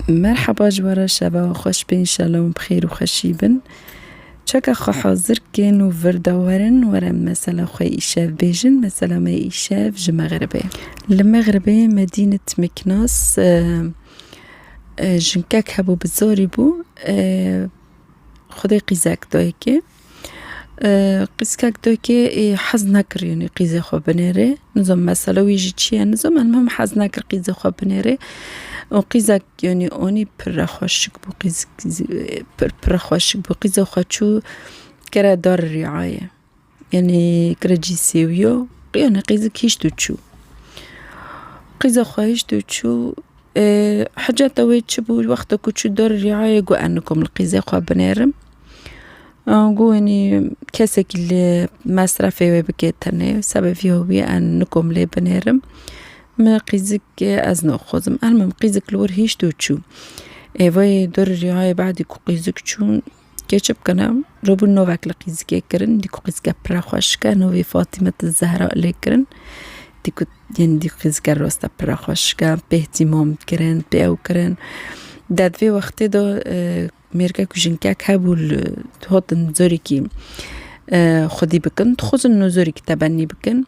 Merhaba ji we re şeva we xweş be înşallah hûn bi xêr û xweşî bin. Çeka xwe hazir kên û vir de werin were mesela xwe îşev bêjin. Mesela me îşev ji Mexribê ye. Li Mexribê me dîn it Mîknas jinkek hebû bi zorî bû xwedê qîzek da yekê. Qîzkek dokê hez nekirî qîzê xwe binêrê nizom mesele wî jî çiye nizom em hez nekir qîzê xwe binêrê û qîzek yanî onî pire xweşik bû qîz pire xweşik bû qîza xwe çû kire darê rîayê yanî kire cî sêwîyo qîzek hîşt û çû qîza xwe hîşt û çû Hiceta wê çi bû? Wexta ku çû der rîayê got ez nikom li qîzê xwe binêrim. Got wenî kesekî li mesrefê wê bike tenê sebevî ew bûye ez nikom lê binêrim. Me qîzik ez naxwazim. Erm im qîzik li wir hişt û çû. Êvayê der rîayê badî ku qîzik çûn Kê çi bikene? Robûn navek li qîzikê kirin, dî ku qîzike pire xweşik e, navê Fatimet'l Zehra lê kirin. Dî ku yên dî qîzike rast e pire xweşik e, pê htimam kirin, pê ew kirin. De di vê wextê de mêrgek û jinkek hebû li hatin carekî xwedî bikin, dixwazin no carekî tebenî bikin.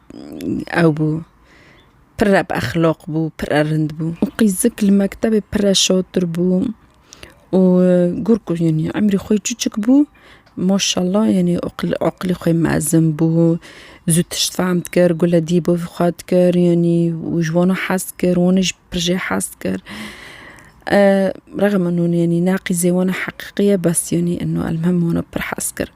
ew bû. Pir re bi exlaq bû, pir re rind bû. Û qîzik li mektebê pir re şatir bû û gur ku yanî emrî xwe çûçik bû maşallah yanî eqil eqilî xwe mezin bû. Zû tişt fehm dikir, gule dî bo vî xwe dikir yanî û ji wan hez dikir, wan jî pir jê hez dikir. Rexme min hûn yanî ne qîzê wan e heqîqî ye bes yanî eno elmuhim wan e pir hez kir.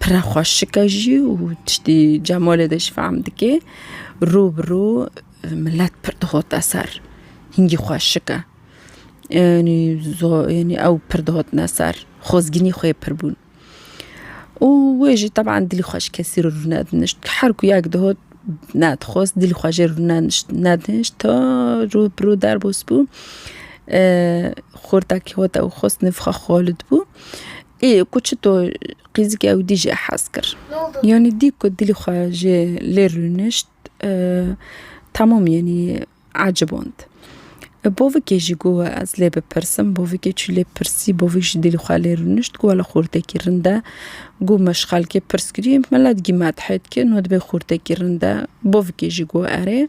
Pire xweşike jî û tiştî Cemalê de jî fehm dike. Rû bi rû milet pir dixote ser. Hingî xweşik e. Yanî yanî ew pir dihotine ser. Xwezgînî xwe yê pir bûn. Û wê jî teban dilî xwe ji kesî re rûne dinişt. Her ku yek dihot nedixwest dilî xwe jê re rûne nedinişt ta rû bi rû derbas bû. Xortekî hot ew xwest nivxa Xalid bû. Ê ku çito qîzikê ew dî jê hez kir. Yanî dî ku dilê xwe jê lê rûnişt temam yanî eciband. Bavikê jî got ez lê bipirsim, bavikê çû lê pirsî, bavik jî dilê xwe lê rûnişt got wela xurtekî rind e. Got me ji xelkê pirs kirî me ne digî me dihê dike no dibê xurtekî rind e. Bavikê jî got erê.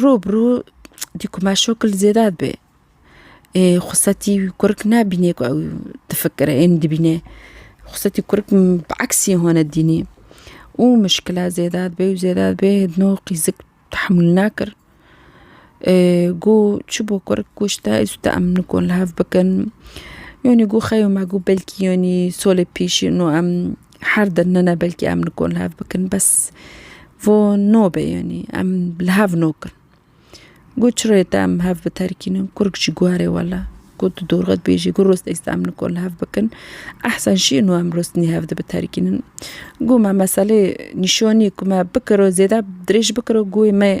Rû bi rû dî ku me şokil zêde dibe. Ê xwesetî wî kurik nabînê ku ew difikire ên dibîne. Xwesetî kurik bi eksî hone dînî û mişkila zêde dibe û zêde dibe no qîzik tehmûl nakir. Goh çi bo kurik goh ji te ez û te em nikon li hev bikin. Yanî goh xeyo me goh belkî yanî solê pêşî no em Her din nene belkî em nikon li hev bikin bes vo nobe yanî em li hev nokin. Got çi rê te em hev biterkînin kurk jî guherê wela got di dorxe dibêjî got rostêk em nikon li hev bikin ehsen şî ino em rostnî hev di biterkînin. Got me meselê nîşanî ku me bikiro zêde dirêj bikiro goyê me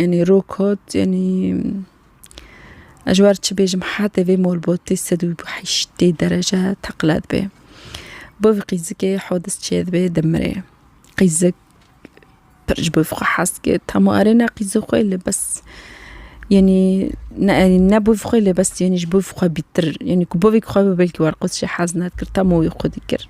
Yanî rokot yanî ez ji wan çi bêjim hetê vê molbotê sed û heştê derece teqile dibe. Bo vî qîzikê hodis çê dibe dimirê. Qîzik pir ji bo vî xwe hes dike hemû erê ne qîzê xwe lê bes yanî ne erê ne bo vî xwe lê bes yanî ji bo vî xwe bîtir yanî ku bo vî xwe bi belkî werqoz jî hez nedikir hemû wî xwedî kir.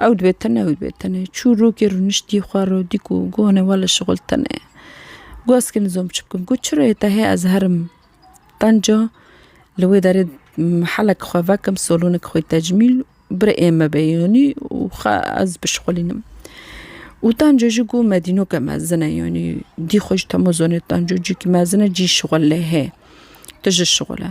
Ew dibe tene ew dibe tene. Çû rokê rûniştî xwe ro dî ku gonê we li şixul tene ye. Got ez kê nizom çi bikim. Got çirayê te heye ez herim qenca li wê derê helek xwe vekim solonek xwê tecmîl bire ê me be yanî û xwe ez bişixulînim. Û qenca jî got me dînoke mezin e yanî dî xwe ji temozanê qenca cî mezin e cî şixul lê hê tu ji şixul e.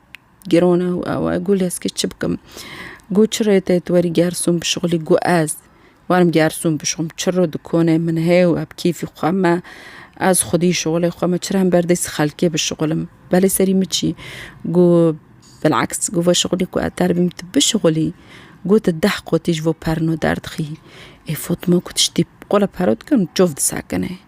Girona û awe got lê ez kê çi bikim? Got çi rê tê tu werî Gersûn bişuxulî? Got ez werim Gersûn bişuxum çi ro di konê min hê û eb kêfî xwe me ez xwedî şixulê xwe me çira hember destî xelkê bişuxulim belê serî min çî? Got bil'aks got veşuxulî ku ez terbîm tu bişuxulî got tu deh qotî ji bo perno derdixî. Ê Fatma got tiştî qula pero dikim çav disekinê.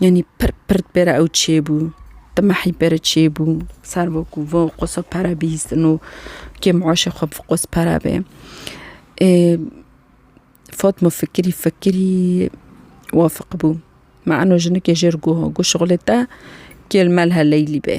Yanî pir pir di pêra ew çêbû. Di mehî pêre çêbû. Ser bo ku vo qosa pere bihîstin û kê muaşê xwe bi qos pere bê. Ê Fatma fikirî fikirî wafiq bû. Ma eno jinikê jêr goha got şixulê te kêl melhe Leylî bê.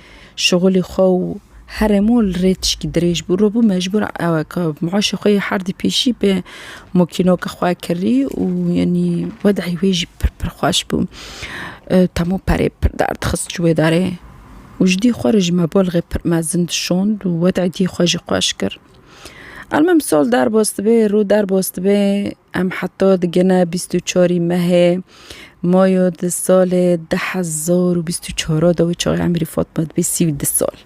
Şixulî xwe û herê mol li rê tişkî dirêj bû. Rû bû mecbûr ew ka muaşê xwe yê herdî pêşî bê mokînoka xwe kirî û yanî wedehî wê jî pir pir xweş bû. Temû perê pir derdixist ji wê derê û ji dî xwe re jî me bol rê pir mezin dişond û wedehî dî xwe jî xweş kir. Elmim sol derbostibê, rû derbostibê. Em heta digine bîst û çarî mehê mayo di salê du hezar û bîst û çara de wê çaxê emrî Fatma dibê sî û du sal.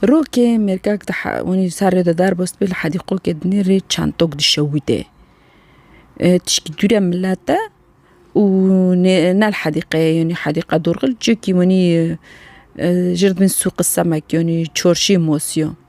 Rokê mêrkek di he- wanî li ser rê de derbas dibê li hedîqokê di nê rê çend tok dişewitê. Tişkî dû re milet e û nê ne li hedîqeyê yanî hedîqa dorxil cihekî wanî jir di bin sûqi semek yanî çarşiyê masiya.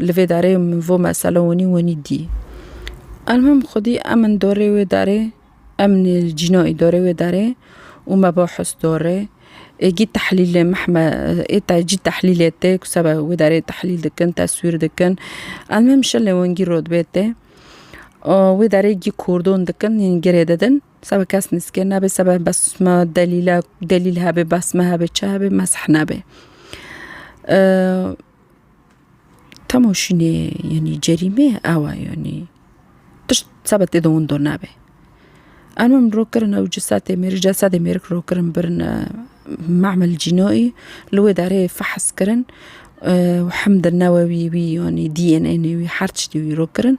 Li vê darê min vo mesela wenî wenî dî. Elmim xwedî em in dorê wê darê, em nê cînayî dorê wê darê û me bo his dorê. Êgî tehlîlê meh me ê te cî tehlîlê tê ku seba wê darê tehlîl dikin, teswîr dikin. Elmim şilê wengî rotbê tê. Wê darê gî kordon dikin yên girê didin. Seba kes nizikê nabê seba bes me delîle delîl hebê bes me hebê çi hebê mesih nabê. Temo şînê yenî cerîmê awa yenî tişt seba tê de wendo nabe. Em em rok kirin ew cisetê mêr cesedê mêrik rok kirin birin memel cînoyî li wê derê fehes kirin û hemd newewî wî yanî DNA nê wî her tiştî wî rok kirin.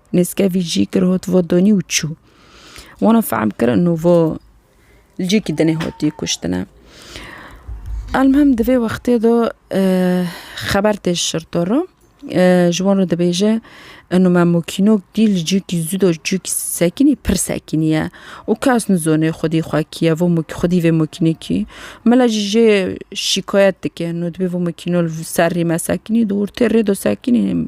Nêzkevî jî kir hot vo donî û çû. Wana fehm kir ino vo li cihekî dinê hotî kuştine. Elmuhim di vê wextê de xeber tê ji şirto re. Ji wan re dibêje ino me mokînok dî li cihekî zû de cihekî sekinî pir sekinî ye û kes nizone xwedî xwe kî ye vo xwedî vê mokînekî. Mele jî jê şîkayet dike ino dibê vo mokîno li ser rê me sekinî dûr tê rê de sekinî.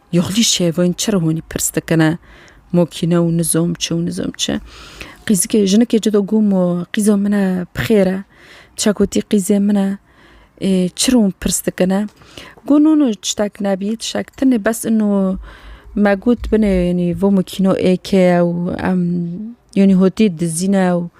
Yoxlî şevên çi re hûnî pirs dikine mokîne û nizom çi û nizom çi. Qîzikê jinikê ci do gom û qîza min e bi xêr e. Çekotî qîzê min e. Ê çi re hûn pirs dikine. Got no no tiştek nebî tiştek tenê bes ino me got binê yanî vo mokîno êkê ye û em yanî hotî dizîne û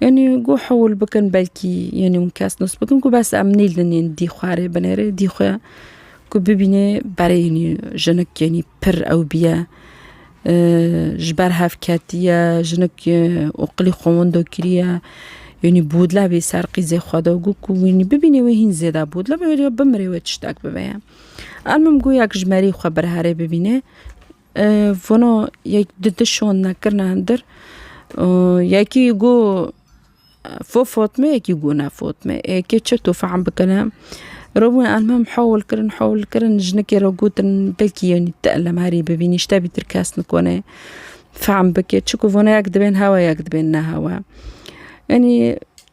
Yanî got hewil bikin belkî yanî hûn kes nas bikin got bes em nêlin yên dî xwe rê binêrê dî xwe ku bibînê berê yanî jinik yanî pir ewbîye ji ber hev ketiye jinik oqilî xwe windo kiriye yanî bodla bê ser qîzê xwe de got ku yanî bibînê wê hîn zêde bodla bimire wê tiştek bibe ye. Erm min got yek ji merî xwe bir herê bibînê. Vano yek di di şonine kirine hundir yekî got fo Fatme yekî got ne Fatme ê kê çi tu fehm bikine. Rewên elmam hewl kirin hewl kirin jinikê re gotin belkî yanî te elem herî bibîn ji te bîtir kes nikune fehm bike çiku vana yek dibên hewa yek dibên nehewa yanî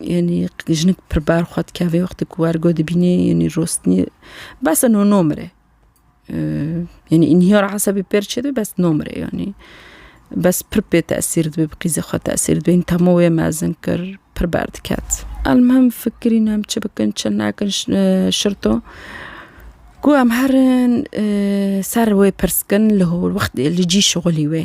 Yanî jinik pir bar xwe dike vê wextê ku wergo dibînê yanî rostinî bes e no nomire. Yanî înhiyar esebî pêr çêdibê bes nomire yanî. Bes pir pê tesîr dibê bi qîzê xwe tesîr dibê hîn temo wê mezin kir pir berdiket. Elmuhim fikirîn em çi bikin çi nekin şirto ku em herin ser wê pirskin li holwextê li cî şixulî wê.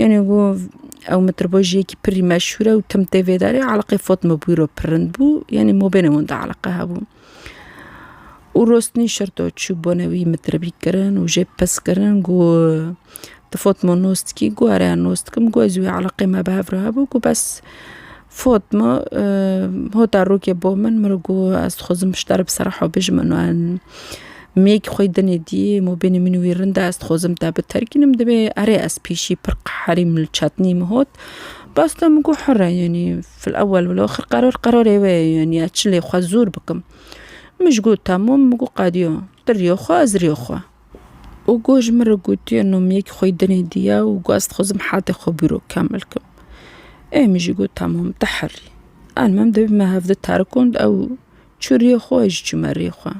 Yanî ku ew mitribojiyekî pir jî meşhûr e û tim tê vê derê eleqê Fatma Bûyro pir rind bû yanî mabênê wan de eleqe hebû. Û rostinî şirto çû bone wî mitribî kirin û jê pirs kirin ku tu Fatma nas dikî ku ere ez nas dikim ku ez û wê eleqê me bi hev re hebû ku bes Fatma, Hota rokê bo min, min got ez dixwazim ji te re bi sereha bijim û mêyekî xwe yê dinê dî mabênê min û wî rind e, ez dixwazim te biterkînim divê erê ez pêşî pir qeherîm li çetnî min hot. Basta min got here yanî fil ewel wil axir qerar qerarê wê ye yanî ez çi lê xwe zor bikim. Min ji got temam min got qediya tu riya xwe ez riya xwe. û got ji min re gotiye nomiyekî xwe yê dinê diye û got ez dixwazim hetê xwe bîro kemil kim. Ê min jî got temam te herî. An min dibî me hev di terikand ew çû riyê xwe ez jî çûme riyê xwe.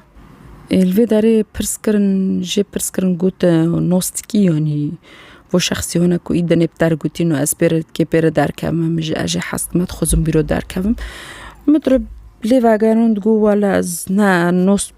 Ê li vê derê pirs kirin jê pirs kirin got nostîkî yanî bo şexsiyane ku î dinê bi te re gotî no ez pê re kê pê re derkevim min jî ez jê hez dime dixwazim bîro derkevim. Min dire lê vegerand got wele ez ne nos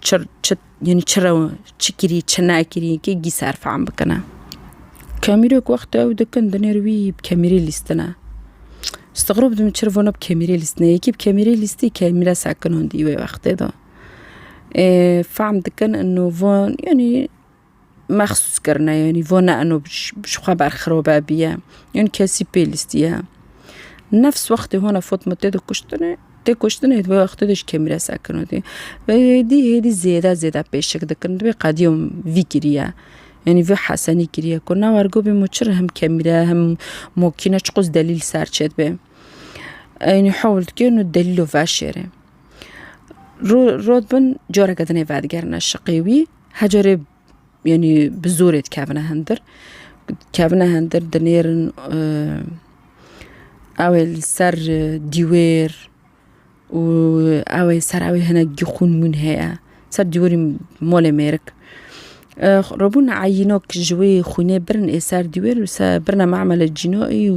Çi çi yani çi rew çi kirî çi nekirî kê gî ser fehm bikine. Kemîrek wextê ew dikin dinêr wî bi kemîrê lîstine. Stixrob didim çi rivona bi kemîrê lîstine yekî bi kemîrê lîstî kemîre sekinandî wê wextê de. Fehm dikin ino van yani mexsûs kirine yanî vo ne eno ji xwe berxirobe biye yan kesî pê lîstiye nefs wextê hona fotma tê de kuştine tê kuştine hêt vê wextê de ji kêmîre sekin dî ve hêdî hêdî zêde zêde pêşik dikin divê qedîyo vî kiriye yanî vê hesenî kiriye ku ne wergo bê min çir him kemîre him mokîne çi qas delîl ser çêt bê yanî hewl dike nu delîlo veşêrê rod bin careke dinê vedigerine şiqê wî Hecerê yanî bi zorê dikevine hindir. Dikevine hindir dinêrin ew ê li ser dîwêr û ew ê ser ew ê hinekî xûn mûn heye ser dîwêrê malê mêrik. Rabûn eyînok ji wê xûnê birin ê ser dîwêr û se birine macmele cînoyî û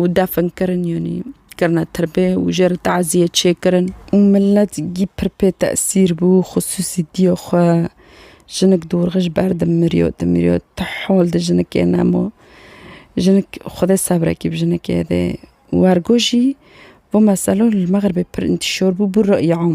û defn kirin yanî kirine tirbê û jê re taziyê çêkirin. Û milet gî pir pê tesîr bû xisûsî dîya xwe jinik dorxe ji ber dimiriyo dimiriyo ti hol di jinikê nemo jinik xwedê sebrekî bi jinikê dê wergo jî bo meselo li mexribê pir întîşor bû bû re'yam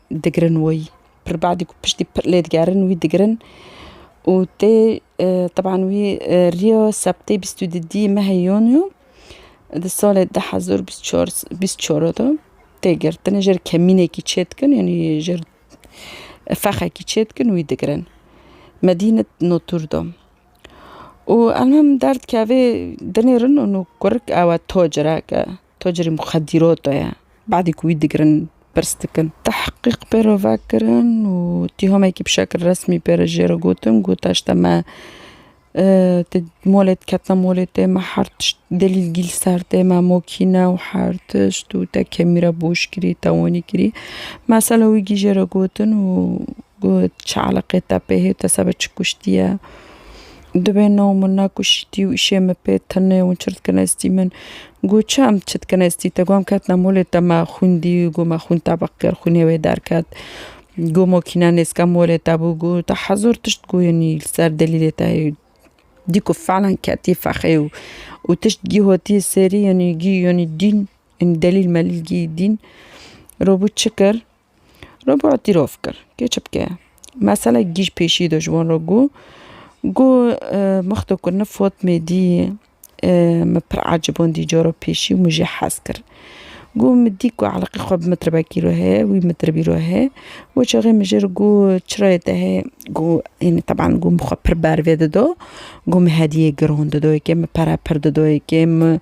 digirin wî pir badî ku piştî pir lê digerin wî digirin û tê teban wî riyo sebtê bîst û di dî mehê yonû di salê di hezar û bîst çar bîst çar de tê girtin jêr kemînekî çê dikin yanî jêr fexekî çê dikin wî digirin medîne notûr de û em him derdikevê dinêrin û kurik ewe tocirek e Tacirê muxedîrata ye. Badê ku wî digirin pirs dikin. Tehqîq pê re ve kirin û tîhamekî bi şekil resmî pê re jê re gotin ku taşte me ti molê diketina molê tê me her tişt delîlgî li ser tê me mokîne û her tişt û te kemî re boş kirî te wanî kirî. Mesela wî gî jê re gotin û got çi eleqê te pê hê te sebe çi kuştiye. Divê no min na ku şîtî û îşê min pê tune û çirt kine stî min. Got çi em çit kine stî te? Got em ketine molê te me xwîn dî û got me xwîn tebq kir xwînê wê derket. Got mokîne nêzke molê te bû got te hezar tişt goyînî li ser delîlê te heye. Dî ku felen ketî fexê û û tişt gî hotiye serî yanî gî yanî dîn yanî delîl melîl gî dîn. Rûbû çi kir Roboa tîrov kir. Kê çi bike? Meselek gîj pêşî de ji wan re got. Got mix de ku nif Fatmê dî min pir ecibandî cara pêşî û min jê hez kir. Got min dî ku eleqî xwe bi mitribekî re heye, wî mitribî re heye. Wê çaxê min jê re got çirayê te heye? Got hênî teban got min xwe pir bervê dida. Got min hediyeyê giran dida yekê, min pere pir dida yekê, min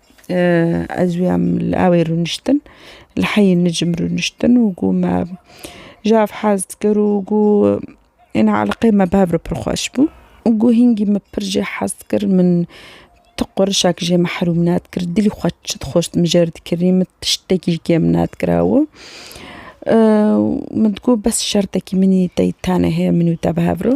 Ez wî em li awê rûniştin li heyî nicm rûniştin û gû me ji hev hez dikir û gû êna eleqê me bi hev re pir xweş bû û gû hingî min pir jê hez dikir min tu qurişek jê mehrûm nadikir dilî xwe çi dixwest min jê re dikirî min tiştekî ji kêm nadikira û min digû bes şertekî min tey tenê hê min û te bi hev re.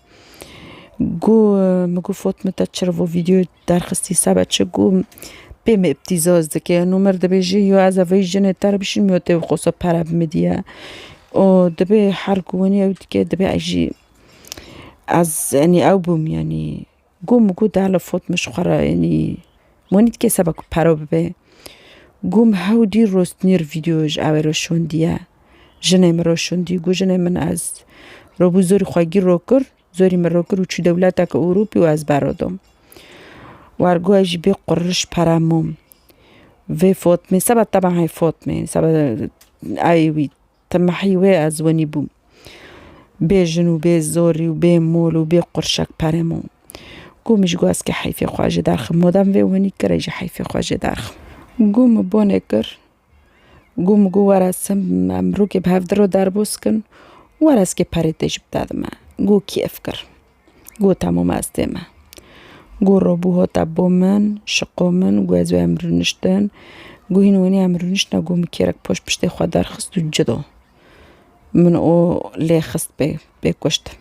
Gu min gu fot min te çira vo vîdyoyê derxistî sebe çi gu pê min îptîzaz dike û min dibêjî yo ez vê jinê te re bişînim yo tê xwesa pere bi min dîya û dibê her ku winî ew dike dibê ez jî ez enî ew bûm enî Gû mi gû dala fot min ji xwe re yanî wan nî dike seba ku pere bibe. Gû mi hew dî rostnîr vîdeo ji ew re şondiye. Jinê min re şondî gû jinê min ez robû zorî xwe gîr ro kir, zorî min ro kir û çû dewleteke Ewropî û ez bero dom. War gû ez jî bê quriliş pere mûm. Vê fot min seba tebean hê fot min seba eyê wî. Te mehî wê ez wenî bûm. Bê jin û bê zorî û bê mol û bê qurşek perê mo. Ku min ji guhezkê heyfê xwe jê derxim. Modem vê wenî kire jî heyfê xwe jê derxim. Ku min bonê kir. Ku min got were sim em rûkê bi hev diro derbûs kin. Were ez kê perê tê ji bi te dime. Ku kêf kir. Go temo me ez tê me. Go robû hate bo min, şiqo min go ez wê em rûniştin. Go hîn wenî em rûniştine go min kêrek poş piştê xwe derxist û ci do. Min o lê xist pê pê kuştin.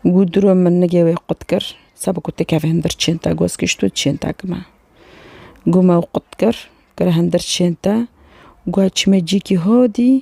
Go diro min nigê wê qut kir, seba ku têkeve hindir çên te goz kişt û çên te kime. Go me ew qut kir, kire hindir çên te, go çimê cîkî hodî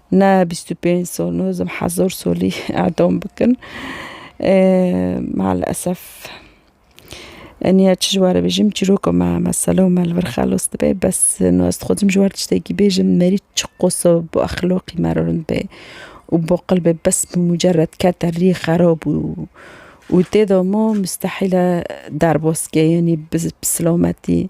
Ne bîst û pênc sal nozim hezar salî edam bikin. Malesef enî ya çi ji we re bêjim çîroka me mesela me li vir xelas dibe bes no ez dixwazim ji wer tiştekî bêjim merî çi qosa bi exlaqî me re rind be û baqilbe bes bi mucerred kete rî xerab û û têda ma mistehîl e derbas ke enî bi silametî